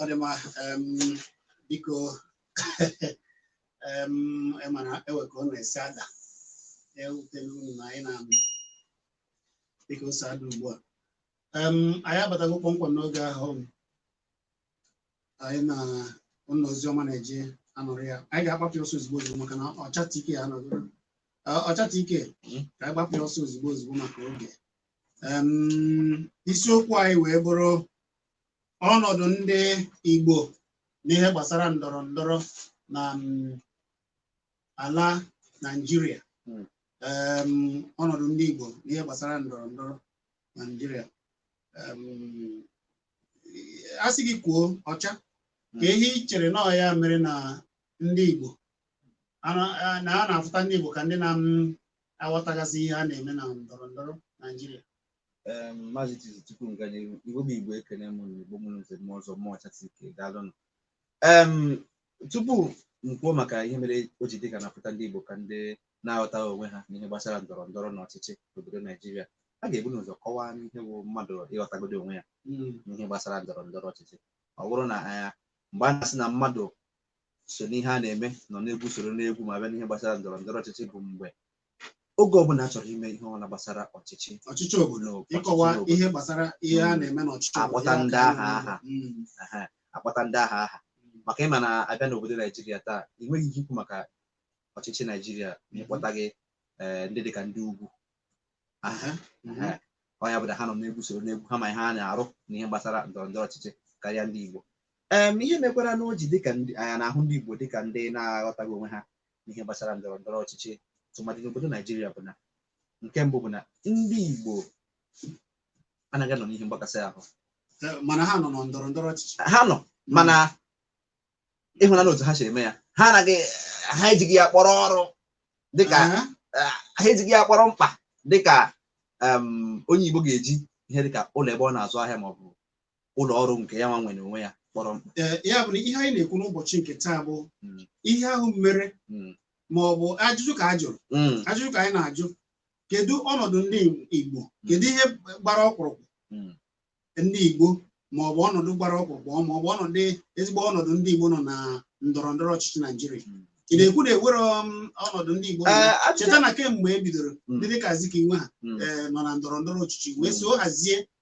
ọ dị mma em, biko em, ị ma na ewe ka ọ na-esi ada ewutela unu na anyị na-anụ dịka o si ada ugbu a Em, anyị abatago kpọmkwem n'oge ahụ anyị na ụlọ ozi ọma na-eji anọrọ ya anyị ga-agbapụ ya ọsọ ozugbo ozugbo maka na ọchata ike ya nọgoro Ee, ọchata ike ka anyị gbapụ ya ọsọ ozugbo ozugbo maka oge Em, isiokwu anyị wee bụrụ ọnọdụ ndị Igbo n'ihe gbasara ndọrọ ndọrọ na mm, ala Naịjirịa Mm. Em, ọnọdụ ndị Igbo n'ihe gbasara ndọrọ ndọrọ na Naịjirịa Em, a sị gị kwuo ọcha kee ihe i chere na ọ ya mere na ndị Igbo ana- a- na a na-afụta ndị Igbo ka ndị na-aghọtagasị ihe a na-eme na ndọrọ ndọrọ Naijiria Em, Maazị Chizi tupu m gaa n'ihu Igbo bụ Igbo ekene m unu Igbo mụrụ nze mụọ ọzọ mụọ ọcha si ike daalụnụ em tupu m kwuo maka ihe mere o ji dị ka a na-afụta ndị Igbo ka ndị na-aghọtaghị onwe ha n'ihe gbasara ndọrọ ndọrọ na ọchịchị n'obodo Naijiria a ga-ebu n'ụzọ kọwaa ihe bụ mmadụ ịghọtagodo onwe ya n'ihe gbasara ndọrọ ndọrọ ọchịchị ọ bụrụ na ya mgbe a na-asị na mmadụ so n'ihe a na-eme nọ n'egwu soro n'egwu ma bịa n'ihe gbasara ndọrọ ndọrọ ọchịchị bụ mgbe oge ọbụla a chọrọ ime ihe ọbụla gbasara ọchịchị ọchịchị obodo n'obodo, ịkọwa ọchịchị n'obodo. ihe gbasara ihe a Mm. na-eme n'ọchịchị obodo, Akpọta ya ndị ka a aha na-eme. aha. Mm. Ehe, a kpọta ndị aha aha maka ị ma na a bịa n'obodo naijiria taa ị nweghị ike ikwu maka ọchịchị naijiria ma ị kpọtaghị eh, ndị dịka ndị ugwu aha Aha. Mhm. Ehe. ọ ya bụ na ha nọ n'egwu soro n'egwu ha ma ihe ha na-arụ na ihe gbasara ndọrọ ndọrọ ọchịchị karịa ndị igbo em ihe mekwara na o ji dịka ndị anya na-ahụ ndị igbo dịka ndị na-aghọtaghị onwe ha n'ihe gbasara ndọrọ ndọrọ ọchịchị tụmadị n'obodo Naijiria bụ na nke mbụ bụ na ndị Igbo anaghị anọ n'ihe mgbakasị ahụ Eh, mana ha nọ na ndọrọ ndọrọ ọchịchị ha nọ mana ị hụ na otu ha si eme ya ha anaghị ha ejighị ya kpọrọ ọrụ dịka Aha. eh, ha ejighị ya kpọrọ mkpa dịka em, onye Igbo ga-eji ihe dịka ụlọ ebe ọ na-azụ ahịa maọbụ ụlọ ọrụ nke ya nwa nwere n'onwe ya kpọrọ mkpa Ee, ya bụ na ihe anyị na-ekwu n'ụbọchị nke taa bụ Mm. ihe ahụ mere Mm. ma ọ bụ ajụjụ ka a jụrụ Mm, ajụjụ ka anyị na-ajụ kedu ọnọdụ ndị Igbo kedu ihe gbara ọkpụrụkpụ Mm. ndị Igbo ma ọ bụ ọnọdụ gbara ọkpụrụkpụ ma ọ bụ ọnọdụ ezigbo ọnọdụ ndị Igbo nọ na ndọrọ ndọrọ ọchịchị Naijiria Mm. ị na-ekwu na e were um, ọnọdụ ndị Igbo nọ na- Ee, ajụjụ- cheta na kemgbe e bidoro Mm. ndị dịka Azikiwe ha Mm. ee, nọ na ndọrọ ndọrọ ọchịchị wee Mm. so hazie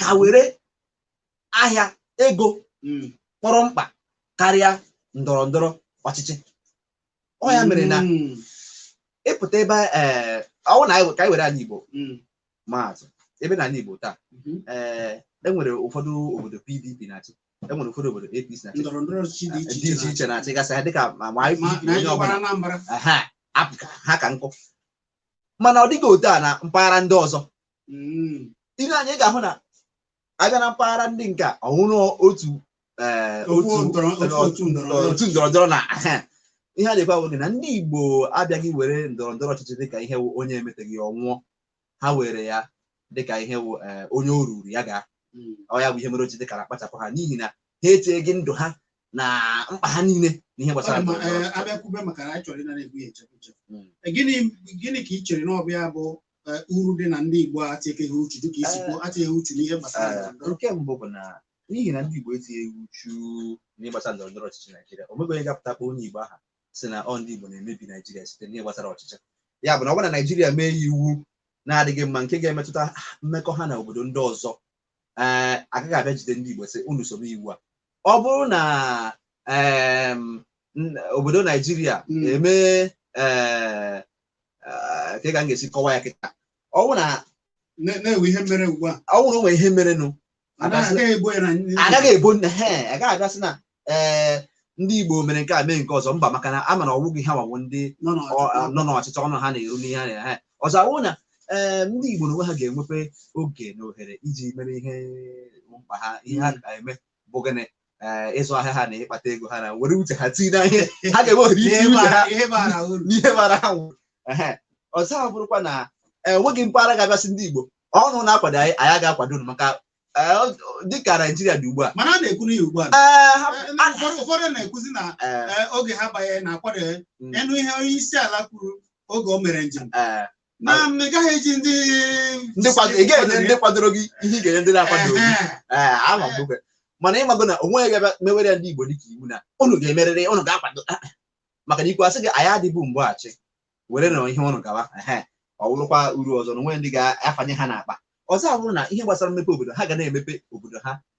ka were ahịa ego hmm. kpọrọ mkpa karịa ndọrọ ndọrọ ọchịchị ọ ya mere na hmm. ị pụta ebe eh, ọwụ na ka anyị were ala Igbo hmm. maa atụ ebe na ala Igbo taa eh, enwere ụfọdụ obodo PDP na-achị enwere ụfọdụ obodo APC na-achị dị iche iche na-achị gasị ha dịka ma onye ọbụla ha ka nkụ mana ọ dịghị otu a na mpaghara ndị ọzọ hmm. ihe anyị ga-ahụ na a bịa na mpaghara ndị nke a ọ wụrụ otu eh, otu ndọrọndọrọ na ihe a na-ekwe agwa gị na ndị Igbo abịaghị were ndọrọndọrọ ọchịchị dịka ihe onye emeteghị ọ nwụọ ha were ya dịka ihe eh, onye o ruru ya gaa hmm. ọ ya bụ ihe mere o ji dịka a na-akpachapụ ha n'ihi na ha echeghị ndụ ha na mkpa ha niile na ihe gbasara eh, abịakwube maka na anyị chọrọ ịnara egwu ya echekwa hmm. eh, gịnị ka ị chere na ọ bụ ya bụ eh, uru dị na ndị Igbo etikeghị uchu dịka i si kwuo etighị uchu n'ihe gbasara eh, ndọrọndọrọ. nke mbụ bụ na n'ihi na ndị Igbo etinyeghị uchu n'ihe gbasara ndọrọ ndọrọ ọchịchị Naijiria o nwebeghị ga-apụta kpọọ onye Igbo aha sị na ọ ndị Igbo na-emebi Naijiria site n'ihe gbasara ọchịchị ya bụ na ọ bụrụ na Naijiria mee ya iwu na-adịghị mma nke ga-emetụta mmekọ ha na obodo ndị ọzọ ee agaghị abịa jide ndị Igbo sị unu so mee iwu a ọ bụrụ na em, n- obodo Naijiria Mm. emee ee eh, kee ka m ga-esi kọwaa ya kịta ọ bụ na Na- na e nwee ihe mere ugbu a ọ bụrụ nwere ihe merenụ Anaghị- agaghị ebo ya na ndị- agaghị ebo nna ha agaghị abịa sị na ee ndị igbo mere nke a mee nke ọzọ mba maka na a ma na ọwụghị ha nwa wụ ndị nọ n'ọchịchị. ọ- a- nọ n'ọchịchị ọnụ ha na-eru n'ihe ha na- ehe ọzọ awụ na ee ndị igbo n'onwe ha ga-enwepe oge na ohere iji mere ihe mkpa ha ihe ha ga-eme bụ gịnị eh, ịzụ ahịa ha na ịkpata ego ha na-ewere uche ha tinye na ihe ha ga-enwe ohere iti Ihe uche ha bara- ihe bara uru. n'ihe bara ha uru Ehe. ọzọ abụrụkwa na enweghị mpaghara ga-abịa sị ndị Igbo unu na-akwado anyị anyị ga-akwado unu maka eh, ọ- dịka Naijiria dị ugbu a mana a na-ekwu n'ihi ugbu a na- eh, ha- eh, na ụfọdụ ụfọdụ na-ekwuzi na eh, eh, oge ha banye na-akwado ya Mm. ị nụ ihe onye isi ala kwuru oge o mere njem eh, na m ị gaghị eji ndị ndị kwado ị ga-enye ndị kwadoro gị ihe ị ga-enye ndị na-akwadoghị Ehe. ee ama m oge mana ị mago na o nweghị ga-abịa mewere ya ndị Igbo dịka iwu na unu ga-emerịrị unu ga-akwado Ah, ah. maka na i kwuo a sị gị anyị adịbu mgbe achị were na ihe unu gawa ehe ọ wụrụkwa uru ọzọ na o nweghị ndị ga-afanye ha n'akpa ọzọ abụrụ na ihe gbasara mmepe obodo ha ga na-emepe obodo ha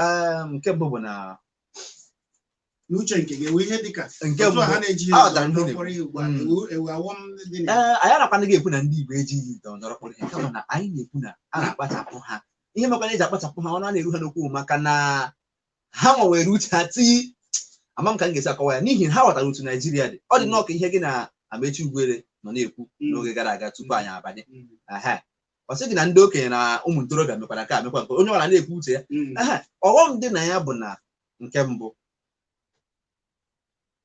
Ee, nke mbụ bụ na n'uche nke gị ewe ihe dịka Nke otu a ha mbụ- na-eji Ah, ya dara ihe na-ekwu. kpọrọ ihe ugbu a Mm. ewu ewu awọm dị na ee anyị anakwanụghị ekwu na ndị Igbo ejighị ndọrọ ndọrọ kpọrọ ihe kama na anyị na-ekwu na a na-akpachapụ ha ihe mekwara e ji akpachapụ ha ọnụ a na-eru ha n'okwu maka na ha nwewere uche ha tii ama m ka m ga-esi akọwa ya n'ihi na ha ghọtara otu Naijiria dị ọ dị nnọọ ka ihe gị na Amechi Ugwuele nọ na-ekwu Mm. n'oge gara aga tupu anyị abanye Mm. Aha. ọ sị gị na ndị okenye na ụmụ ntorobịa mekwara nke a mekwa nke onye ọbụla na-ekwu uche ya Mm. Ehe, ọghọm dị na ya bụ na nke mbụ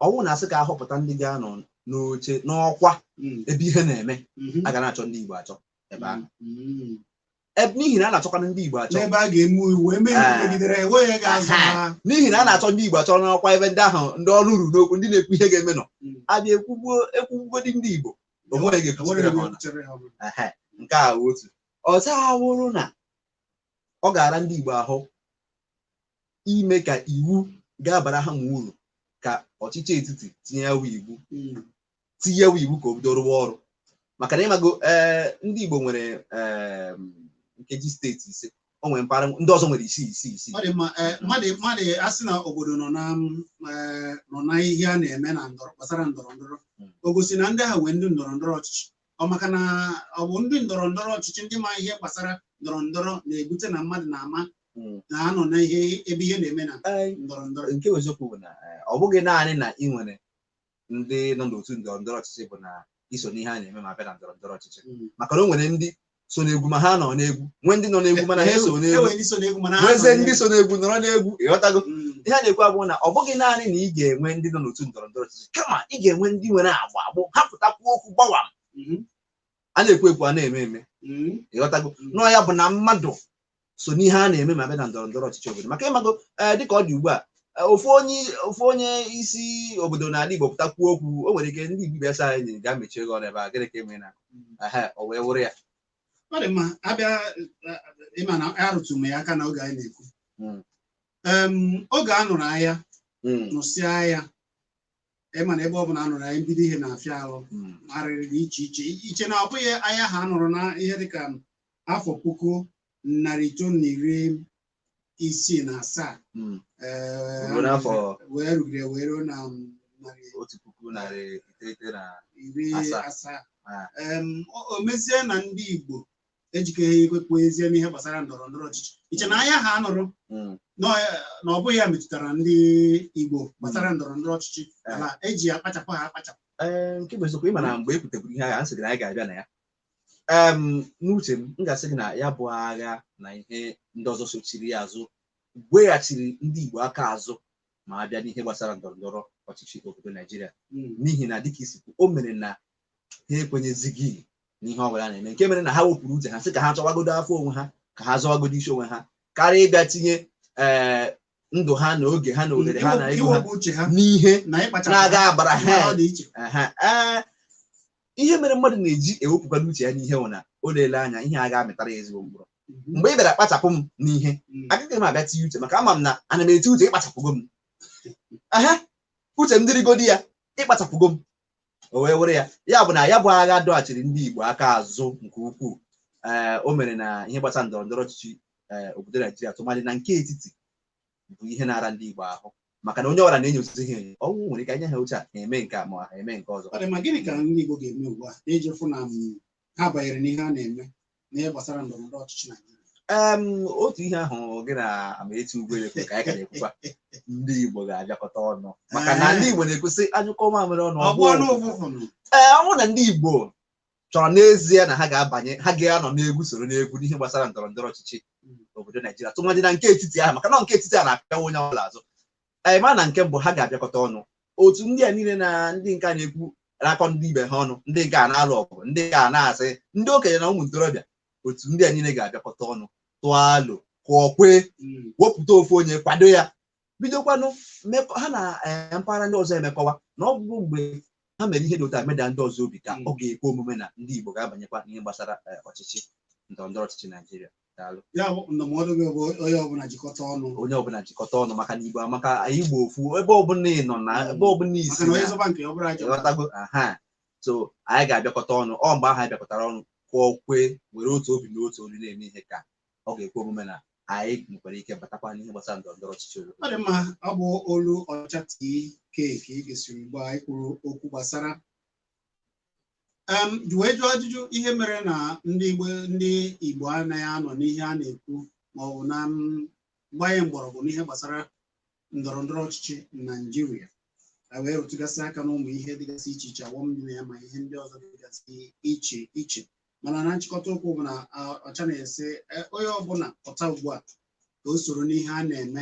ọ wụ na a sị ka ahọpụta ndị ga-anọ n'oche n'ọkwa Mm. ebe ihe na-eme Mhm. a ga na-achọ ndị Igbo achọ ebe ahụ Mm. Ebe- n'ihi na a na-achọkwanụ ndị Igbo achọ n'ebe a ga-eme iwu eme iwu Ah. megidere ya, enweghị onye ga-azọ Aha. ha n'ihi na a na-achọ ndị Igbo achọ n'ọkwa ebe ndị ahụ ndị ọnụ ruru n'okwu ndị na-ekwu ihe ga-eme nọ Mm. a bịa ekwugbuo ekwugbugodi ndị Igbo o nweghị o nweghị ọnụ. chere ha ọnụ. Ehe, nke a wụ otu ọzọ awụrụ na ọ ga-ara ndị Igbo ahụ ime ka iwu ga-abara ha ma uru ka ọchịchị etiti tinye ya wụ iwu Mm. tinye ya wụ iwu ka o bido rụwa ọrụ maka na ịmago ee ndị Igbo nwere em, nkeji steeti ise o nwere mpaghara ndị ọzọ nwere isii isii isii ọ dị mma ee, mmadụ mmadụ a sị na obodo nọ na mm, ee, nọ na ihe a na-eme na ndọrọ gbasara ndọrọ ndọrọ Mm. o gosi na ndị ha nwee ndị ndọrọ ndọrọ ọchịchị ọ maka na ọ bụ ndị ndọrọ ndọrọ ọchịchị ndị ma ihe gbasara ndọrọ ndọrọ na-ebute na mmadụ na-ama Mm. na ha nọ na ihe ebe ihe na-eme na Ee, ndọrọ ndọrọ nke bụ eziokwu bụ na eh, ọ bụghị naanị na ị nwere ndị nọ n'otu ndọrọ ndọrọ ọchịchị bụ na iso n'ihe a na-eme ma bịa na ndọrọ ndọrọ ọchịchị maka na o nwere ndị so n'egwu ma ha anọ n'egwu nwee ndị nọ n'egwu mana ha eso n'egwu enwere ndị so n'egwu mana ha nwezienụ ndị so n'egwu nọrọ n'egwu ịghọtago n'egwu. ihe a na-ekwu abụrụ na ọ bụghị naanị na ị ga-enwe ndị nọ n'otu ndọrọ ndọrọ ọchịchị kama ị ga-enwe ndị nwere agba a bụ ha pụta kwuo okwu gbawam Mhm. a na-ekwu ekwu a na-eme eme Mm. ịghọtago nọ ya bụ na mmadụ so n'ihe a na-eme ma bịa na ndọrọ ndọrọ ọchịchị obodo maka ịmago ee, dịka ọ dị ugbu a ee, ofu onye ofu onye isi obodo n'ala Igbo pụta kwuo okwu o nwere ike ndị Igbo ibe asị anyị ga mechie gị ọnụ ebe a gịnị ka eme na ehe o wee wụrụ ya ọ dị mma abịa eh, ịma na arụtụ m ya aka na oge anyị na-ekwu Mm. Em, oge a nụrụ aya Mm, nụsịa aya ịma na ebe ọ bụla anụrụ aya mbido ihe na-afịa ahụ Mm. arịrị dị iche iche iche na ọ bụghị aya ahụ anụrụ na ihe dịka afọ puku narị itoolu na iri isii na asaa Mm. ee, Ruo n'afọ wee rugide wee ruo na um, narị otu puku narị iteghete na iri Asaa. asaa Ah. Em, o o mezie na ndị Igbo ejikeghị ekwekwu ezie n'ihe gbasara ndọrọ ndọrọ ọchịchị iche na aya ahụ anụrụ mm. na ọ bụghị ya metụtara ndị Igbo gbasara ndọrọ ndọrọ ọchịchị eh. a na-eji ya kpachapụ ha akpachapụ eh, nke bụ eziokwu ịma na mgbe e pụteburu ihe agha a sị gị na anyị ga-abịa na ya n'uche m m ga-asị gị na ya bụ agha na ihe ndị ọzọ sochiri ya azụ weghachiri ndị Igbo aka azụ ma a bịa n'ihe gbasara ndọrọ ndọrọ ọchịchị obodo Naijiria hmm. n'ihi na dịka ị sị o mere na ha ekwenyezighị n'ihe ọbụla na-eme nke mere na ha wepụrụ uche ha sị ka ha chọwagodo afọ onwe ha ka ha zọwagodo isi onwe ha karịa ịbịa tinye ee ndụ ha na oge ha na ohere ha na ego ha iwepụ uche ha n'ihe na ịkpachara na-aga abara ha ọ dị iche Aha, ee, ihe mere mmadụ na-eji ewepụkwado uche ya n'ihe nwụ na o leele anya ihe a ga-amịtara ya ezigbo mkpụrụ mgbe ị bịara kpachapụ m n'ihe agaghị m abịa tinye uche maka ama m na ana m eti uche ị kpachapụgo m aha uche m dịrịgodi ya ị kpachapụgo m o wee were ya ya bụ na ya bụ agha dọghachiri ndị Igbo aka azụ nke ukwuu ee o mere na ihe gbasara ndọrọ ndọrọ ọchịchị ee obodo Naijiria tụmadị na nke etiti bụ ihe na-ara ndị Igbo ahụ maka na onye ọbụla na-enyozi ihe enyo ọnwụ nwere ike e nye ha oche ha eme nke a ma ha eme nke ọzọ Ọ dị mma, gịnị ka ndị Igbo ga-eme ugbu a iji fụ na em ha banyere n'ihe a na-eme n'ihe gbasara ndọrọ ndọrọ ọchịchị Naijiria Em, otu ihe ahụ gị na Amaechi Ugwuele kwuru ka anyị ka na-ekwukwa ndị Igbo ga-abịakọta ọnụ maka na ndị Igbo na-ekwu sị a nyụkọọ mamịrị ọnụ ọ bụ ọ gbọọnụ ụfụfụ. ụfụfụ nụ. Ee, ọ bụrụ na ndị Igbo chọrọ n'ezie na ha ga-abanye ha ga-anọ n'egwu soro n'egwu n'ihe gbasara ndọrọ ndọrọ ọchịchị obodo Naijiria tụmadị na nke etiti ahụ maka na nke etiti a na-apịawa onye ọbụla azụ anyị ma na nke mbụ ha ga-abịakọta ọnụ otu ndị a niile na ndị nke a na-ekwu na-akọ ndị ibe ha ọnụ ndị nke a na-alụ ọgụ ndị nke a na-asị ndị okenye na ụmụ ntorobịa otu ndị a niile ga-abịakọta ọnụ tụọ alo kwuo kwee wepụta ofu onye kwado ya bidokwanụ mmekọ ha na eh, mpaghara ndị ọzọ emekọwa na ọ bụ mgbe ha mere ihe dị otu a meda ndị ọzọ obi ka Mm. ọ ga-ekwe omume na ndị Igbo ga-abanyekwa n'ihe gbasara eh, ọchịchị ndọrọndọrọ ọchịchị Naijiria Daalụ. ya bụ ndụmọdụ gị bụ onye ọbụla jikọta ọnụ onye ọbụla jikọta ọnụ maka na Igbo amaka anyị bụ ofu ebe ọbụla ị nọ na ebe ọbụla maka ị sị na onye na-azọba nke ya ọ bụrụ ajọ ịghọtago aha so anyị ga-abịakọta ọnụ ọ mgbe ahụ anyị bịakọtara ọnụ kwuo kwee were otu obi na otu olu na-eme ihe ka ọ ga-ekwe omume na anyị nwekwara ike batakwa n'ihe gbasara ndọrọ ndọrọ ọchịchị obodo ọ dị mma ọ bụ olu Ọcha TK ka ị gesịrị mgbe anyị kwuru okwu gbasara em wee jụọ ajụjụ ihe mere na ndị Igbo ndị Igbo anaghị anọ n'ihe a na-ekwu ma ọ bụ na em gbanye mgbọrọgwụ n'ihe gbasara ndọrọ ndọrọ ọchịchị na Naịjirịa a wee rụtụgasị aka n'ụmụ ihe dịgasị iche iche awọm dị na ya ma ihe ndị ọzọ dịgasị iche iche mana na nchịkọta okwu bụ na a, Ọcha na-asị e, onye ọbụla pụta ugbu a ka o soro n'ihe a na-eme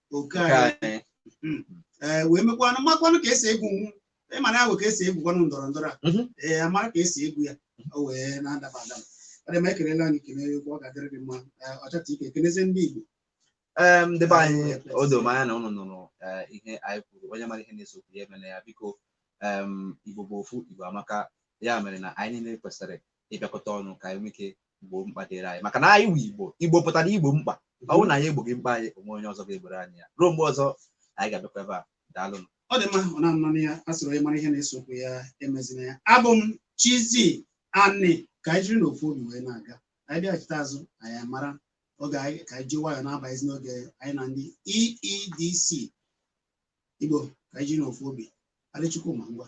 oke Nke anyị anyị. ee wee mekwanụ makwanụ ka e si egwu nwu ị ma na ahụ ka e si egwukwanụ ndọrọ ndọrọ a Mhm. ee a mara ka e si egwu ya o wee na-adaba adaba ọ dị mma ekelela anyị kene egwu ọ ga-adịrị gị mma Ee, Ọcha TK kenezie ndị Igbo Ee, ndị be anyị o doro m anya na unu nụrụ ee, ihe anyị kwuru onye mara ihe na-ese okwu ya emela ya biko em, Igbo bụ ofu Igbo amaka ya mere na anyị niile kwesịrị ịbịakọta ọnụ ka anyị nwee ike gboo mkpa dịrị anyị maka na anyị wụ igbo igbo pụtara igbo mkpa ọ bụrụ na anyị egboghị mkpa anyị o nwe onye ọzọ ga-egboro anyị ya ruo mgbe ọzọ anyị ga-abịakwa ebe a daalụ ọ dị mma ọ na-anọ na ya a sịrị onye mara ihe na-ese okwu ya emezie ya abụ m Chizi Ani ka anyị jiri n'ofu obi wee na-aga anyị bịaghachite azụ anyị mara oge anyị ka anyị ji nwayọọ na-abazi n'oge anyị na ndị EEDC Igbo ka anyị jiri n'ofu obi Adịchukwu ma ngwa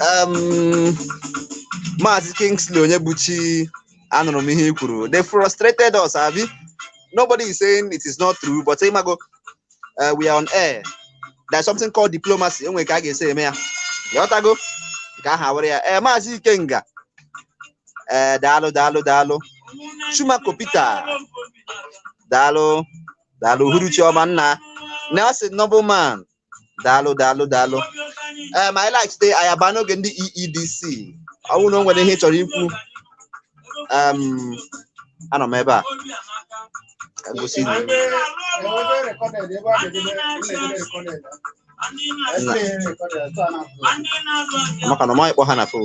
Um, Maazị Kingsley Onyebuchi, anụrụ m ihe i kwuru. They frustrated us, abi? Nobody is saying it is not true, but ị mago, uh, we are on air. There's something called diplomacy. O nwe ka a ga-esi eme ya. Ghọtago? Nke ahụ awara ya. Eh, Maazị Ikenga. Eh, daalụ, daalụ, daalụ. Chumako Peter. Daalụ, daalụ. Uhuruchi ọma nna. Nelson Nobleman. daalụ daalụ daalụ ee ma anyị laghachite anyị abaa n'oge ndị EEDC ọ bụrụ na o nwere ihe ị chọrọ ikwu em, anọ m ebe a ka m gosi gị. maka na ọ maghị kpọ ha na fon